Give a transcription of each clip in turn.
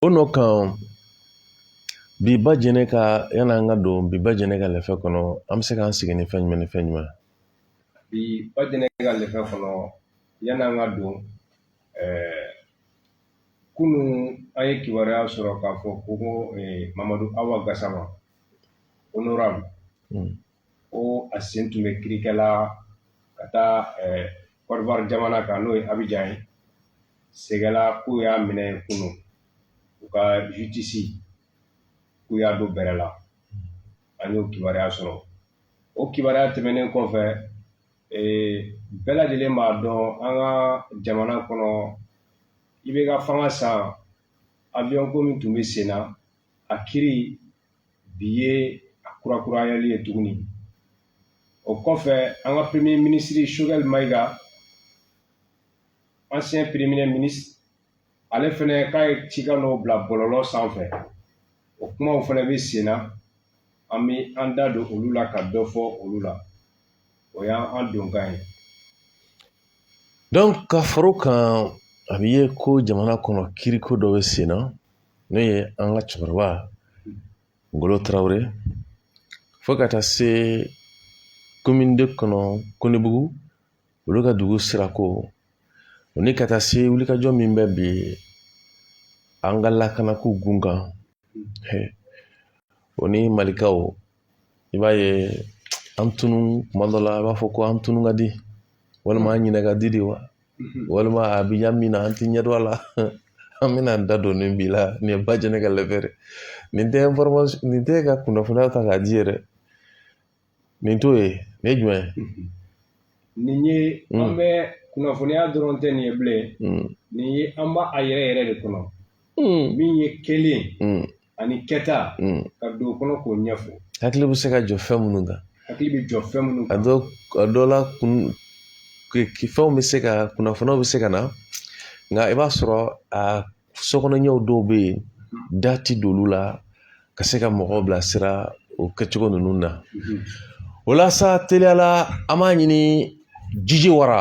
O nɔ kan bi ba jɛnɛ ka yani an ka don bi ba jɛnɛ ka lɛfɛ kɔnɔ an bɛ se k'an sigi ni fɛn jumɛn ni fɛn jumɛn bi ba jɛnɛ ka lɛfɛ kɔnɔ yani an ka don ɛɛ kunun an ye kibaruya sɔrɔ k'a fɔ ko ko mamadu awa gasama honorable ko a sen tun bɛ kirikɛ la ka taa côte d'ivoire jamana kan n'o ye abijan ye segela k'u y'a minɛ kunun u ka justice k'u y'a don bɛrɛ la an y'o kibaruya sɔrɔ o kibaruya tɛmɛnen kɔfɛ bɛɛ lajɛlen b'a dɔn an ka jamana kɔnɔ IBK fanga san avion ko min tun bɛ sen na a kiri bi ye a kurakurayali ye tuguni o kɔfɛ an ka premier minisiri sogɛli mayiga ancien premier ministre ale fɛnɛ k'a ye cikan dɔw bila bɔlɔlɔ sanfɛ o kumaw fɛnɛ bɛ sen na an bɛ an da don olu la ka dɔ fɔ olu la o y'an donkan ye donc ka fara o kan a bɛ ye ko jamana kɔnɔ kiriko dɔ bɛ sen na n'o ye an ka cɛkɔrɔba ngolo tarawele fo ka taa se komin de kɔnɔ konebugu olu ka dugu sirako o ni ka taa se wulikajɔ min bɛ bi an ka lakanako kun kan o ni malikaw i b'a ye an tunun kuma dɔ la a b'a fɔ ko an tunun ka di walima an ɲinɛ ka di de wa walima a bi ɲa min na an ti ɲɛ dɔn a la an bɛna an da don nin bi la nin ye ba jɛnɛ ka lɛfɛ ye nin tɛ information nin tɛ ka kunnafoniya ta k'a di yɛrɛ nin t'o ye nin ye jumɛn ye nin ye an bɛ kunnafoniya dɔrɔn tɛ nin ye bilen nin ye an b'a a yɛrɛ yɛrɛ de kɔnɔ min ye kɛlen ani kɛta ka don o kɔnɔ k'o ɲɛfɔ hakili bɛ se ka jɔ fɛn minnu kan hakili bɛ jɔ fɛn minnu kan a dɔ la kun fɛnw bɛ se ka kunnafoniw bɛ se ka na nka i b'a sɔrɔ a sokɔnɔɲɛw dɔw bɛ yen da ti don olu la ka se ka mɔgɔw bilasira o kɛcogo ninnu na o la sa teliyala an b'a ɲini jiji wara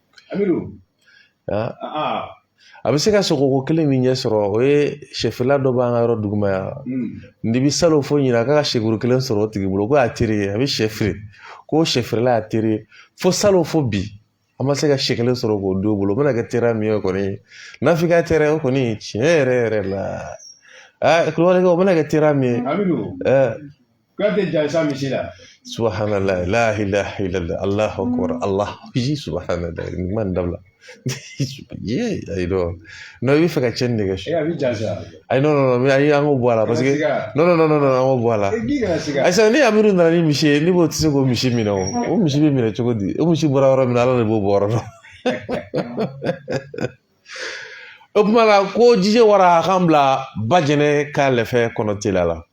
A bɛ don aa a bɛ se ka sogo ko kelen min ɲɛ sɔrɔ o ye sɛfeerela dɔ b'an ka yɔrɔ duguma yan n'i bɛ salon fo ɲinan ka sɛ kuru kelen sɔrɔ o tigi bolo ko a teri ye a bɛ sɛ feere ko sɛ feerela y'a teri ye fo salon fo bi an ma se ka sɛ kelen sɔrɔ k'o don o bolo o bɛna kɛ teriya min ye kɔni n'a f'i ka teriya o kɔni tiɲɛ yɛrɛ yɛrɛ la a kulubali o bɛna kɛ teriya min ye kuyate jansa misi la subahana la ilaha illallah allahu akbar allah ji subahanala ni man dabila ye ayi dɔn n'o i bɛ fɛ ka cɛnni de kɛ su a bɛ jansa ayi non non ayi an k'o bɔ a la parce que non non non non an k'o bɔ a la ayisa ni amiru nana ni misi ye ne b'o tɛ se k'o misi minɛ o o misi bɛ minɛ cogo di o misi bɔra yɔrɔ min na ala de b'o bɔ yɔrɔ dɔn o tuma la ko jije wara a k'an bila bajɛnɛ ka lɛfɛ kɔnɔ teliya la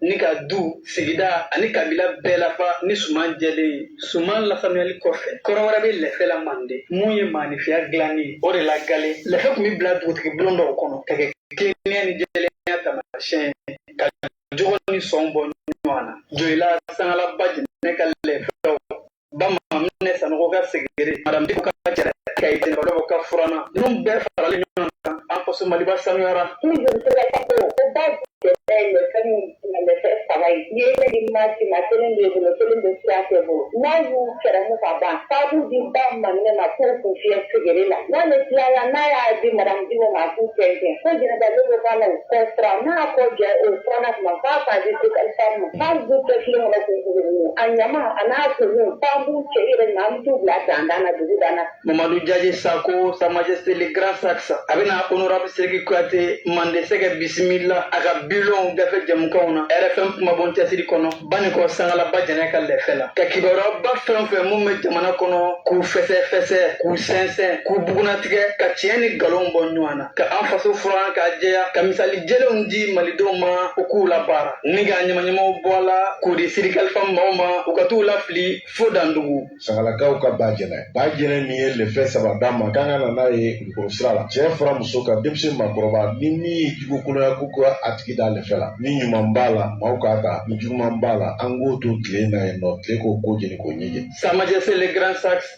ni ka du sigida ani kabila bɛɛ lafa ni suman jɛlen ye suman lasanuyali kɔfɛ kɔrɔ wɛrɛ bɛ lɛfɛ la mande mun ye maanifiya dilanni ye o de la galen lɛfɛ tun bɛ bila dugutigi bulon dɔw kɔnɔ ka kɛ tilennenya ni jɛlenya taamasiyɛn ka jogo ni sɔn bɔ ɲɔgɔn na jɔyila sangala bajɛnɛ ka lɛfɛ la bamaminɛ sanɔgɔ ka segere madame diko ka jɛrɛ ka ye jɛnɛbadɔ ka furannan ninnu bɛɛ faralen ɲɔgɔn kan an faso maliba sanuyara ni joli sɛbɛ ka ko o bajɛnɛ ye fɛn min tɛmɛ fɛn saba ye n'i ye ne di ma si ma kelen bɛ bolo kelen bɛ sira tɛ bolo n'a y'u kɛrɛmu ka ban f'a k'u di bamaminɛ ma k'u kun fiyɛ segere la n'ale tilala n'a y'a di madame diko ma k'u tɛntɛn ko jɛnɛbadɔ bɛ k'a la o kɔ fura n'a kɔ jɛ o furana tuma f'a k'a di sekalifa ma N'an b'u kɛ filen kɔnɔ k'u bugubugu, a ɲama a n'a kumuw f'an b'u cɛ yɛrɛ ɲini an bɛ t'u bila danda la dugu dan na. Mamadu Jaje Sako, Sa Majesté le Grand Saxe, a bɛna Honorable Siriki Kuyate Mandesɛgɛ bisimila a ka bilon gafe jamukanw na RFM kumabon cɛsiri kɔnɔ Banikɔ Sangala Bajɛnɛ ka lɛfɛ la, ka kibaruyaba fɛn o fɛn minnu bɛ jamana kɔnɔ k'u fɛsɛfɛsɛ, k'u sɛnsɛn, k'u bugunnatigɛ, ka tiɲɛ ni nkalonw bɔ ɲɔgɔn na. ka an faso furan k'a jɛya ka misali jɛlenw di malidenw ma u k'u labaara ni ka ɲamaɲamaw bɔ a la k'u di sirikalifan maaw ma u ka t'u lafili fo dandugu sangalakaw ka bajɛnɛ bajɛnɛ min ye lɛfɛ saba d'a ma k'an ka na n'a ye kulukɔrɔ sira la cɛ fara muso kan denmisɛn makɔrɔba ni min ye jugukoloya k'u ka a tigi da lɛfɛ la ni ɲuman b'a la maaw k'a ta ni juguman b'a la an k'o to tile na yen nɔ tile k'o ko jeni k'o ɲɛjɛ sa majesté le grand saxe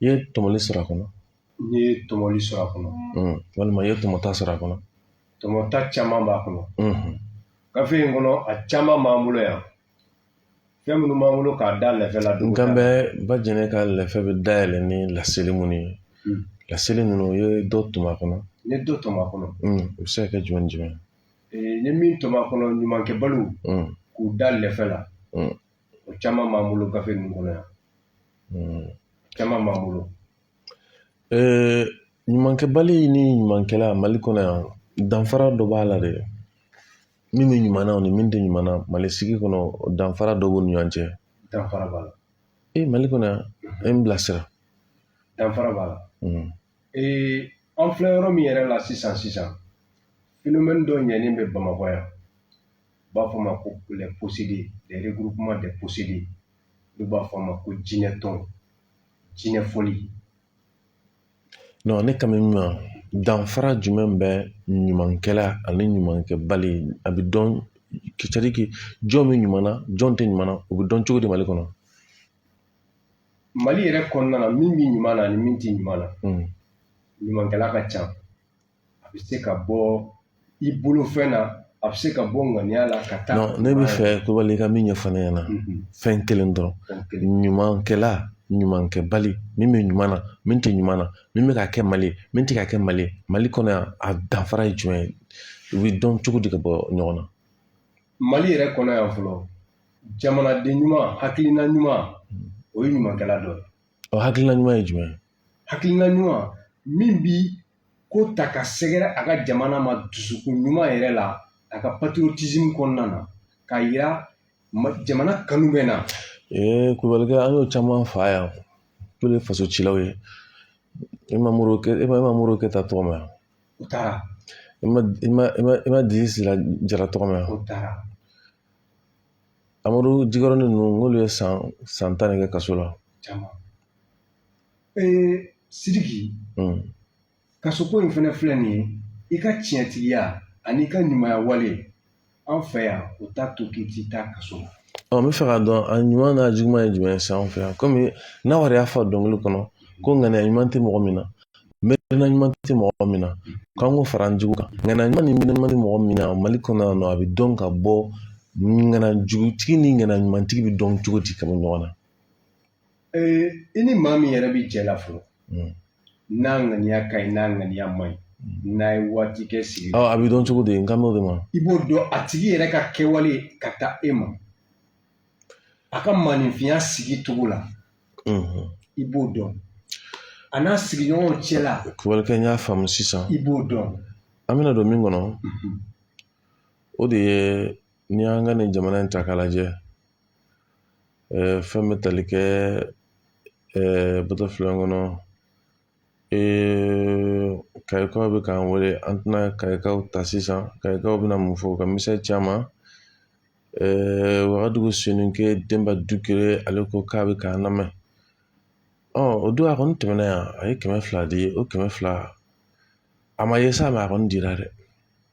i ye tɔmɔli sɔrɔ a kɔnɔ n ye tɔmɔli sɔrɔ a kɔnɔ mm, walima i ye tɔmɔta sɔrɔ a kɔnɔ tɔmɔta caman b'a kɔnɔ mm, gafe in kɔnɔ a caman b'an bolo yan fɛn minnu b'an bolo k'a da lɛfɛ la don n kan bɛ bajɛnɛ ka lɛfɛ bɛ dayɛlɛ ni laseli minnu ye Mm. laseli ninnu i ye dɔ tɔmɔ a kɔnɔ n ye dɔ tɔmɔ a kɔnɔ mm, o bɛ se ka kɛ jumɛn ni jumɛn ye? Ee, n ye min tɔmɔ a kɔnɔ ɲumankɛbaliw Mm, k'u da lɛfɛ la mm, o caman b'an bolo gafe ninnu kɔnɔ yan hmm. caman b'an bolo eh, ɲumankɛbali ni ɲumankɛla mali kɔnɔ yan danfara dɔ b'a la dɛ min bɛ ɲuman na o ni min tɛ ɲuman na mali sigi kɔnɔ danfara dɔ b'u ni ɲɔgɔn cɛ danfara b'a la e mali kɔnɔ yan e n bilasira danfara b'a la hmm. ee an filɛ yɔrɔ min yɛrɛ la sisan sisan phénomène dɔ ɲɛnen bɛ bamakɔ yan u b'a fɔ a ma ko les possédés regroupement des possédés u b'a fɔ a ma ko jinɛ tɔn jinɛ fɔli ne kan bɛ min ma danfara jumɛn bɛ ɲumankɛla ani ɲumankɛbali a bɛ dɔn jɔn bɛ ɲuman na jɔn tɛ ɲuman na o bɛ dɔn cogo di mali kɔnɔ mali yɛrɛ kɔnɔna na min bɛ ɲuman na ani min tɛ ɲuman na ɲumankɛla ka ca a bɛ se ka bɔ i bolofɛn na a bɛ se ka bɔ ŋaniya la ka taa ne bɛ fɛ kulubali ka min ɲɛfɔ ne ɲɛna fɛn kelen dɔrɔn ɲumankɛla ɲumankɛbali min bɛ ɲuman na min tɛ ɲuman na min bɛ ka kɛ mali ye min tɛ ka kɛ mali ye mali kɔnɔ yan a danfara ye jumɛn ye u bɛ dɔn cogo di ka bɔ ɲɔgɔn na mali yɛrɛ kɔnɔ yan fɔlɔ jamanaden ɲuman hakilina ɲuman o ye ɲumankɛla dɔ ye o hakilina ɲuman ye jumɛn ye hakilina ɲuman min bi ko ta ka sɛgɛrɛ a ka jamana ma dusukun ɲuman yɛrɛ la a ka patriotisme kɔnɔna na k'a yira jamana kanu bɛ na ee kulubalikɛ an y'o caman faa yan k'olu ye faso cilaw ye e ma modibo ke e ma e ma modibo keyita tɔgɔ mɛn yan u taara i ma i ma i ma i ma dibi sila jara tɔgɔ mɛn yan u taara amadu jikɔrɔni ninnu n'olu ye san san tan de kɛ kaso la caman sidiki kasoko in fana filɛ nin ye i ka tiɲɛtigiya ani i ka ɲumanya wale an fɛ yan o t'a to k'i tɛ taa kaso la n bɛ fɛ k'a dɔn a ɲuman n'a juguman ye jumɛn ye sisan an fɛ yan kɔmi nawari y'a fɔ dɔnkili kɔnɔ ko ŋaniya ɲuman tɛ mɔgɔ min na miirina ɲuman tɛ mɔgɔ min na k'an k'o fara an jugu kan ŋaniya ɲuman ni miirina tɛ mɔgɔ min na mali kɔnɔ yan nɔ a bɛ dɔn ka bɔ ŋaniya jugutigi ni ŋaniya ɲumantigi bɛ dɔn cogo di ka bɔ ɲɔgɔn na Ee i ni maa min yɛrɛ bɛ jɛ la fɔlɔ n'a ŋaniya ka ɲi n'a ŋaniya man ɲi n'a ye waati kɛ sigi la a bɛ dɔn cogo di n kan b'o de ma i b'o dɔn a tigi yɛrɛ ka kɛwale ka taa e ma a ka maaninfinya sigi cogo la i b'o dɔn a n'a sigiɲɔgɔnw cɛ la kulubalikɛ n y'a faamu sisan i b'o dɔn an bɛna don min kɔnɔ o de ye n'i y'an ka nin jamana in ta k'a lajɛ fɛn bɛ tali kɛ bɔtɔfilen kɔnɔ kayikaw bɛ k'an wele an tɛna kayikaw ta sisan kayikaw bɛna mun fɔ ka misɛn caman wagadugu soninke denba dukure ale ko k'a bɛ k'an lamɛn o don a kɔni tɛmɛna yan a ye kɛmɛ fila di o kɛmɛ fila a ma ye sa mais a kɔni dira dɛ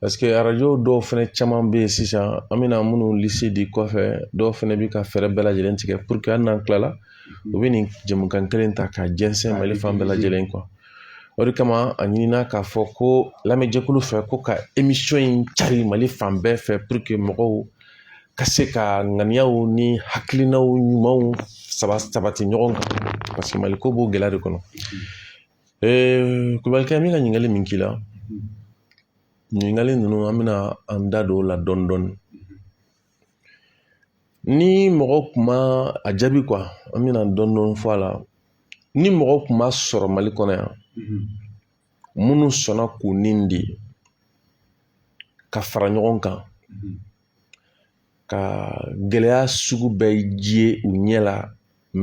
paseke arajo dɔw fɛnɛ caman be yen sisan an bɛna minnu lisi di kɔfɛ dɔw fɛnɛ bi ka fɛɛrɛ bɛɛ lajɛlen tigɛ puruke hali n'an kilala u be nin jɛmukan kelen ta ka jɛnsɛn mali fan bɛɛ lajɛlen kan o de kama a ɲinina k'a fɔ ko lamɛnjɛkulu fɛ ko ka emisiyɔn in cari mali fan bɛɛ fɛ puruke mɔgɔw ka se ka ŋaniyaw ni hakilinaw ɲumanw saba sabati ɲɔgɔn kan paseke maliko b'o gɛlɛya de kɔnɔ Ee kulubalikɛ min ka ɲininkali min k'i la ɲininkali ninnu an bɛna an da don o la dɔɔnin dɔɔnin ni mɔgɔ kun ma a jaabi kuwa an bɛna dɔɔnin dɔɔnin fɔ a la ni mɔgɔ kun ma sɔrɔ mali kɔnɔ yan minnu sɔnna k'u ni di ka fara ɲɔgɔn kan ka gɛlɛya sugu bɛɛ ye u ɲɛ la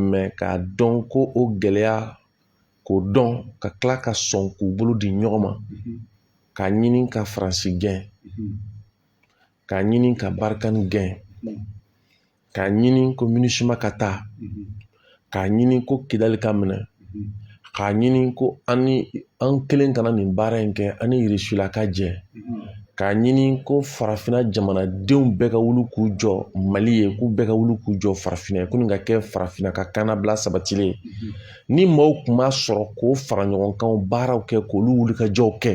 mɛ k'a dɔn ko o gɛlɛya k'o dɔn ka kila ka sɔn k'u bolo di ɲɔgɔn ma k'a ɲini ka faransi gɛn k'a ɲini ka barikani gɛn k'a ɲini ko minisuma ka taa k'a ɲini ko kidali ka minɛ k'a ɲini ko an an kelen kana nin baara in kɛ an ni irisila ka jɛ k'a ɲini ko farafinna jamanadenw bɛɛ ka wuli k'u jɔ mali ye k'u bɛɛ ka wuli k'u jɔ farafinna ye ko nin ka kɛ farafinna ka kannabila sabatilen ye ni maaw kun ma sɔrɔ k'o faraɲɔgɔnkan baaraw kɛ k'olu wulikajɔw kɛ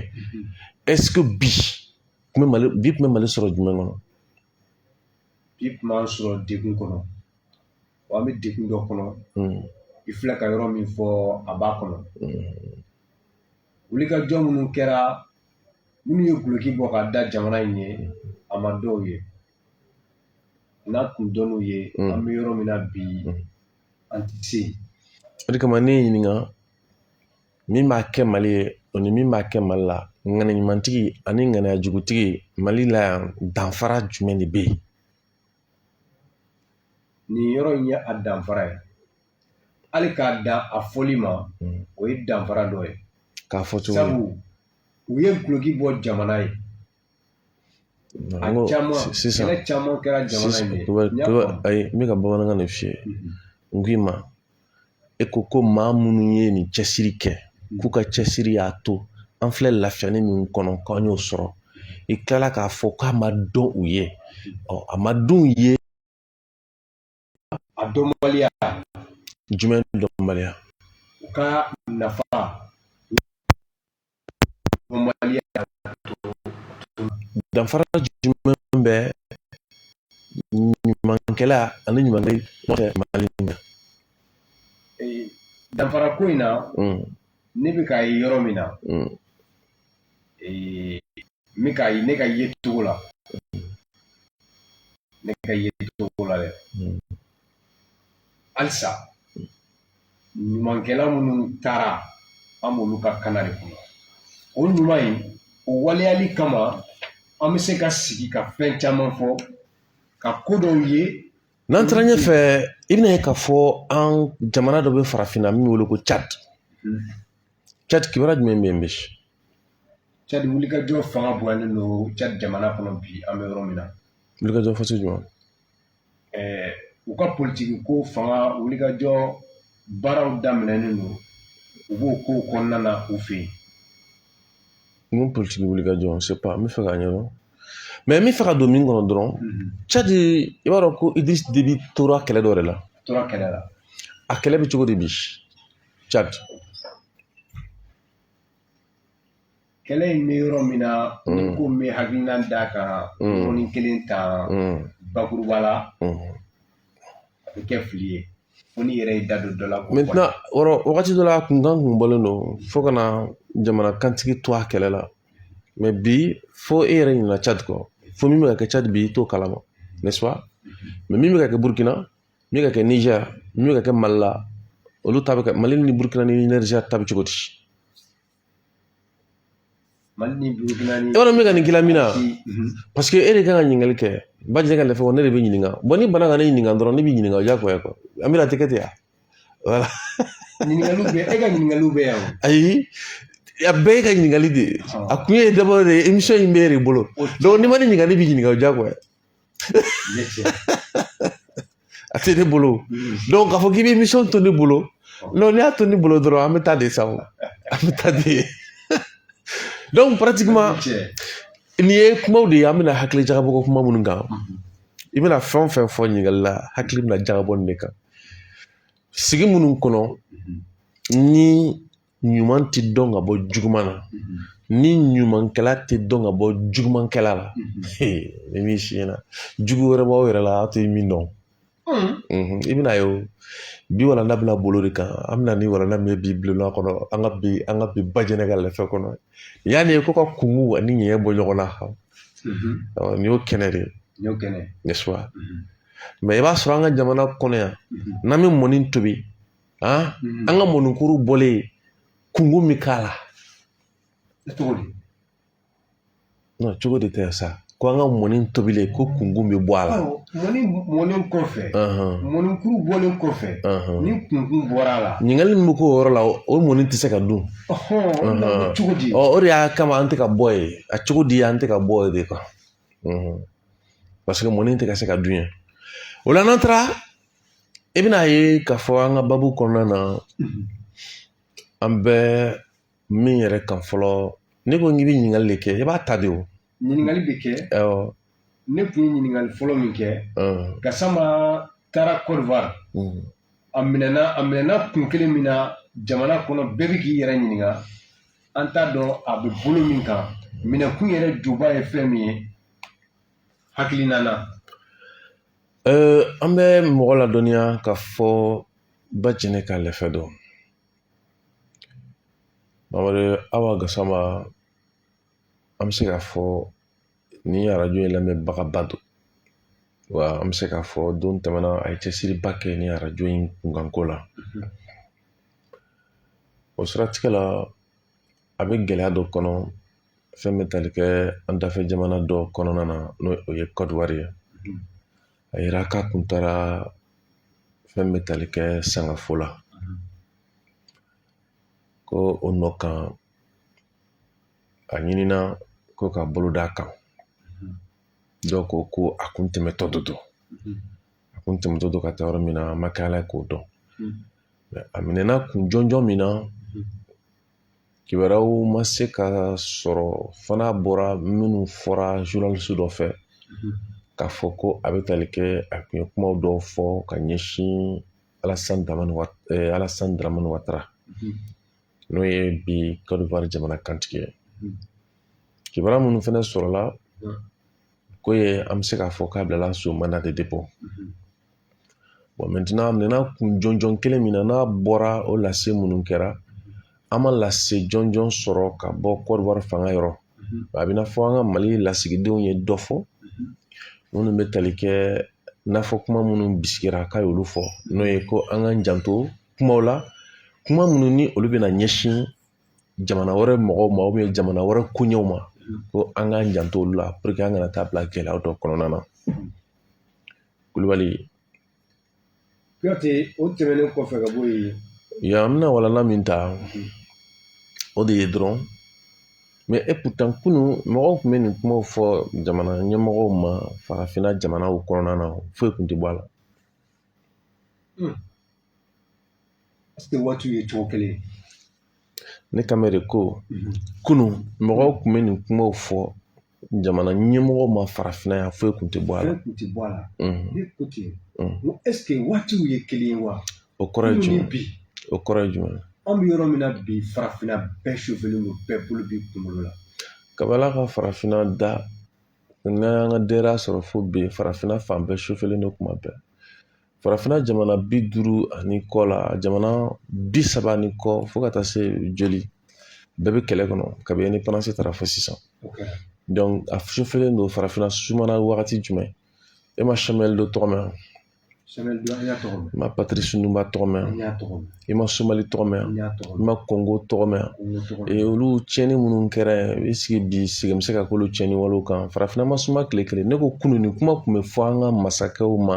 ɛseke bi kun bɛ mali sɔrɔ jumɛn kɔnɔ bi kun b'an sɔrɔ degun kɔnɔ wa an bɛ degun dɔ kɔnɔ i filɛ ka yɔrɔ min fɔ a b'a kɔnɔ wulikajɔ minnu kɛra minnu ye guloki bɔ ka da jamana in ye a ma dɔn u ye n'a kun dɔnn'u ye an bɛ yɔrɔ min na bi an tɛ se yen o de kama ne y'i ɲininka min b'a kɛ mali ye o ni min b'a kɛ mali la ŋaniya ɲumantigi ani ŋaniya jugutigi mali la yan danfara jumɛn de be yen nin yɔrɔ in ye a danfara ye hali k'a dan a fɔli ma o ye danfara dɔ ye k'a fɔ cogo sabu u ye guloki bɔ jamana ye Sisan ayi n bɛ ka bamanankan de f'i ye n k'i ma e ko ko maa minnu ye nin cɛsiri kɛ k'u ka cɛsiri y'a to an filɛ lafiyanin min kɔnɔ k'an y'o sɔrɔ i kilala k'a fɔ k'a ma dɔn u ye a ma dɔn u ye a dɔnbaliya jumɛn dɔnbaliya u ka nafa dɔnbaliya danfara jumɛn bɛ ɲumankɛla ani ɲuman mali na danfara ko in na ne bɛ k'a ye yɔrɔ min na ee, ne ka ne ka ye cogo la ne ka ye cogo la dɛ hmm. halisa ɲumankɛla minnu taara an b'olu ka kana de kɔnɔ o ɲuman in o waleyali kama an bɛ se ka sigi ka fɛn caman fɔ ka ko dɔw ye n'an taara ɲɛfɛ i bɛn'a ye k'a fɔ an jamana dɔ bɛ farafinna min wele ko cadi hmm. cadi kibaruya jumɛn bɛ yen bi cadi wulikajɔ fanga bonyalen don cadi jamana kɔnɔ bi an bɛ yɔrɔ min na wulikajɔ fɔsi jumɛn ɛɛ u ka politigi ko fanga wulikajɔ baaraw daminɛnen don u b'o ko kɔnɔna na u fɛ yen mun politigi wulikajɔ c'est pas n b'a fɛ k'a ɲɛdɔn mais n b'a fɛ ka don min kɔnɔ dɔrɔn cadi i b'a dɔn ko idirisi debi tora kɛlɛ dɔ de la tora kɛlɛ la a kɛlɛ bɛ cogo di bi cadi. kɛlɛ in bɛ yɔrɔ min na n'i ko n bɛ hakilina d'a kan yɔrɔnin kelen ta bakuruba la a bɛ kɛ fili ye fo n'i yɛrɛ y'i da don dɔ la maintenant wagati dɔ la a kunkan kun bɔlen don fo ka na jamana kantigi to a kɛlɛ la mais bi fo e yɛrɛ ɲinɛna cadi kɔ fo min bɛ ka kɛ cadi bi i t'o kalama n'est-ce pas mais min bɛ ka kɛ burukina min bɛ ka kɛ nizɛri min bɛ ka kɛ mali la olu ta bɛ kɛ mali ni burukina ni nizɛri ta bɛ cogo di mali ni burukina ni e b'a dɔn n bɛ ka nin k'i la min na paseke e de kan ka ɲininkali kɛ bajɛ ka lɛfɛ ne de bɛ ɲininka n'i banna ka ne ɲininka dɔrɔn ne b'i ɲininka o diyagoya quoi an bɛna t'a kɛ ten yan voilà ɲininkaliw bɛ e ka ɲininkaliw bɛ yan ayi a bɛɛ y'e ka ɲininkali de ye a kun ye d'abord de émission in bɛ e de bolo n'i ma ne ɲininka ne b'i ɲininka o diyagoya a tɛ ne bolo donc k'a fɔ k'i bɛ émission to ne bolo non n'i y'a to ne bolo dɔrɔn an bɛ taa de sa o an bɛ taa de donc pratiquement nin ye kumaw de ye an bɛna hakili jagabɔ ko kuma minnu kan i bɛna fɛn o fɛn fɔ ɲininkali la hakili bɛna jagabɔ nin de kan sigi minnu kɔnɔ ni ɲuman ti dɔn ka bɔ juguman na ni ɲumankɛla tɛ dɔn ka bɔ jugumankɛla la ni min si na jugu wɛrɛ b'aw yɛrɛ la aw tɛ min dɔn i bɛn'a ye o bi walanda bɛna boli o de kan an bɛna ni walanda min ye bi bulon kɔnɔ an ka bi an ka bi bajɛnɛ ka lɛfɛ kɔnɔ yan n'i ko ka kunkun ani ɲɛɲɛ bɔ ɲɔgɔn na nin y'o kɛnɛ de ye n'est-ce pas mais i b'a sɔrɔ an ka jamana kɔnɔ yan n'an bɛ mɔni tobi an ka mɔnikuru bɔlen kunkun min k'a la cogo di cogo de tɛ sa ko an ka mɔni tobilen kɔ kunkun bɛ bɔ a la mɔni mɔnen kɔfɛ mɔnikuru bɔlen kɔfɛ ni kunkun bɔra a la ɲininkali min bɛ k'o yɔrɔ la o mɔni tɛ se ka dun cogo di o de y'a kama an tɛ ka bɔ yen a cogo di an tɛ ka bɔ yen de paseke mɔni tɛ ka se ka dun yan o la n'an taara i bɛna a ye k'a fɔ an ka baabu kɔnɔna na an bɛ min yɛrɛ kan fɔlɔ ne ko k'i bɛ ɲininkali de kɛ i b'a ta de o ɲininkali bɛ kɛ ne tun ye ɲininkali fɔlɔ min kɛ gasama taara kɔdiwari a minɛna kun kelen min na jamana kɔnɔ bɛɛ bɛ k'i yɛrɛ ɲininka an t'a dɔn a bɛ bolo min kan minɛkun yɛrɛ juba ye fɛn min ye hakilina na an bɛ mɔgɔ ladɔnniya k'a fɔ bajɛnɛ ka lɛfɛ dɔn mamadu awa gasama an bɛ se k'a fɔ nin arajo in lamɛnbagaba don wa an bɛ se k'a fɔ don tɛmɛna a ye cɛsiriba kɛ nin arajo in kunkanko la o siratigɛ la a bɛ gɛlɛya dɔ kɔnɔ fɛn bɛ tali kɛ an dafɛ jamana dɔ kɔnɔna na n'o ye kɔdiwari ye a yera k'a kun taara fɛn bɛ tali kɛ sangafo la ko o nɔ kan a ɲinina ko ka bolo d'a kan dɔw ko ko a kun tɛmɛtɔ de don a kun tɛmɛtɔ don ka taa yɔrɔ min na an ma kɛ ala ye k'o dɔn a minɛna kun jɔnjɔn min na kibaruyaw ma se ka sɔrɔ fo n'a bɔra minnu fɔra zurunalisi dɔ fɛ k'a fɔ ko a bɛ tali kɛ a kun ye kuma dɔw fɔ ka ɲɛsin alasan daraman watara n'o ye bi kɔdiwari jamana kantigi ye kibaruya minnu fana sɔrɔla ko ye an bɛ se k'a fɔ k'a bilala sous mandat de dépôt bɔn mɛntenan a minɛna kun jɔnjɔn kelen min na n'a bɔra o lase minnu kɛra an ma lase jɔnjɔn sɔrɔ ka bɔ kɔdiwari fanga yɔrɔ a bɛ n'a fɔ an ka mali lasigidenw ye dɔ fɔ minnu bɛ tali kɛ n'a fɔ kuma minnu bisikira k'a y'olu fɔ n'o ye ko an k'an janto kumaw la kuma minnu ni olu bɛna ɲɛsin jamana wɛrɛ mɔgɔw ma jamana wɛrɛ koɲɛw ma ko an k'an janto olu la an kana taa bila gɛlɛya dɔ kɔnɔna na kulubali o tɛmɛnen kɔfɛ ka bɔ yen yan an bɛna walanda min ta o de ye dɔrɔn mɛ et pourtant kunun mɔgɔw kun bɛ nin kumaw fɔ jamana ɲɛmɔgɔw ma farafinna jamanaw kɔnɔna na foyi kun tɛ bɔ a la Est-ce que waatiw ye cogo kelen ye ne k'a ma de ko kunun mɔgɔw kun bɛ nin kumaw fɔ jamana ɲɛmɔgɔw ma farafinna yan foyi kun tɛ bɔ a la ne ko ten ko est-ce que waatiw ye kelen ye wa o kɔrɔ ye jumɛn bi o kɔrɔ ye jumɛn an bɛ yɔrɔ min na bi farafinna bɛɛ chauffelen don bɛɛ bolo b'i kunkolo la kab'Ala ka farafinna da n'an y'an ka denbaya sɔrɔ fo bi farafinna fan bɛɛ chauffelen don kuma bɛɛ farafinna jamana bi duuru ani kɔ la jamana bi saba ni kɔ fo ka taa se joli bɛɛ bɛ kɛlɛ kɔnɔ kabi indépendance tara fo sisan a chauffelen don farafinna sumana wagati jumɛn e ma Samuel Doe tɔgɔ mɛn i ma Patrice Lumumba tɔgɔ mɛn i ma Somali tɔgɔ mɛn i ma Congo tɔgɔ mɛn olu tiɲɛni minnu kɛra i sigi bi sigi bɛ se ka k'olu tiɲɛni walew kan farafinna ma suma tile kelen ne ko kunun nin kuma tun bɛ fɔ an ka masakɛw ma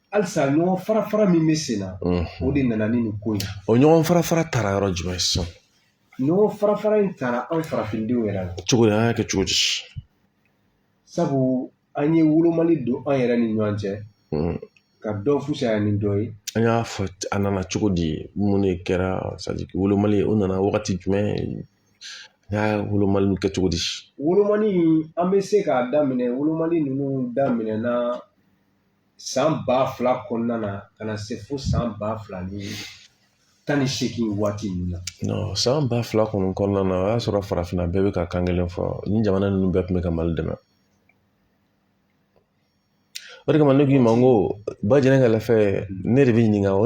halisa ɲɔgɔn fara fara min bɛ sen na o de nana ni nin ko in ye o ɲɔgɔn fara fara taara yɔrɔ jumɛn sisan ɲɔgɔn fara fara in taara anw farafindenw yɛrɛ la cogo di an y'a kɛ cogo di sabu an ye wolomali don an yɛrɛ ni ɲɔgɔn cɛ ka dɔ fusaya ni dɔ ye an y'a fɔ a nana cogo di mun de kɛra wolomali o nana wagati jumɛn an y'a wolomali kɛ cogo di wolomali an bɛ se k'a daminɛ wolomali ninnu daminɛna san ba fila kɔnɔna na ka na se fo san ba fila ni tan ni seegin waati ninnu na san ba fila kɔni kɔnɔna na o y'a sɔrɔ farafinna bɛɛ bɛ ka kan kelen fɔ nin jamana ninnu bɛɛ tun bɛ ka mali dɛmɛ o de kama ne k'i ma n ko ba jɛngɛ ka lafɛ ne de bɛ ɲininka o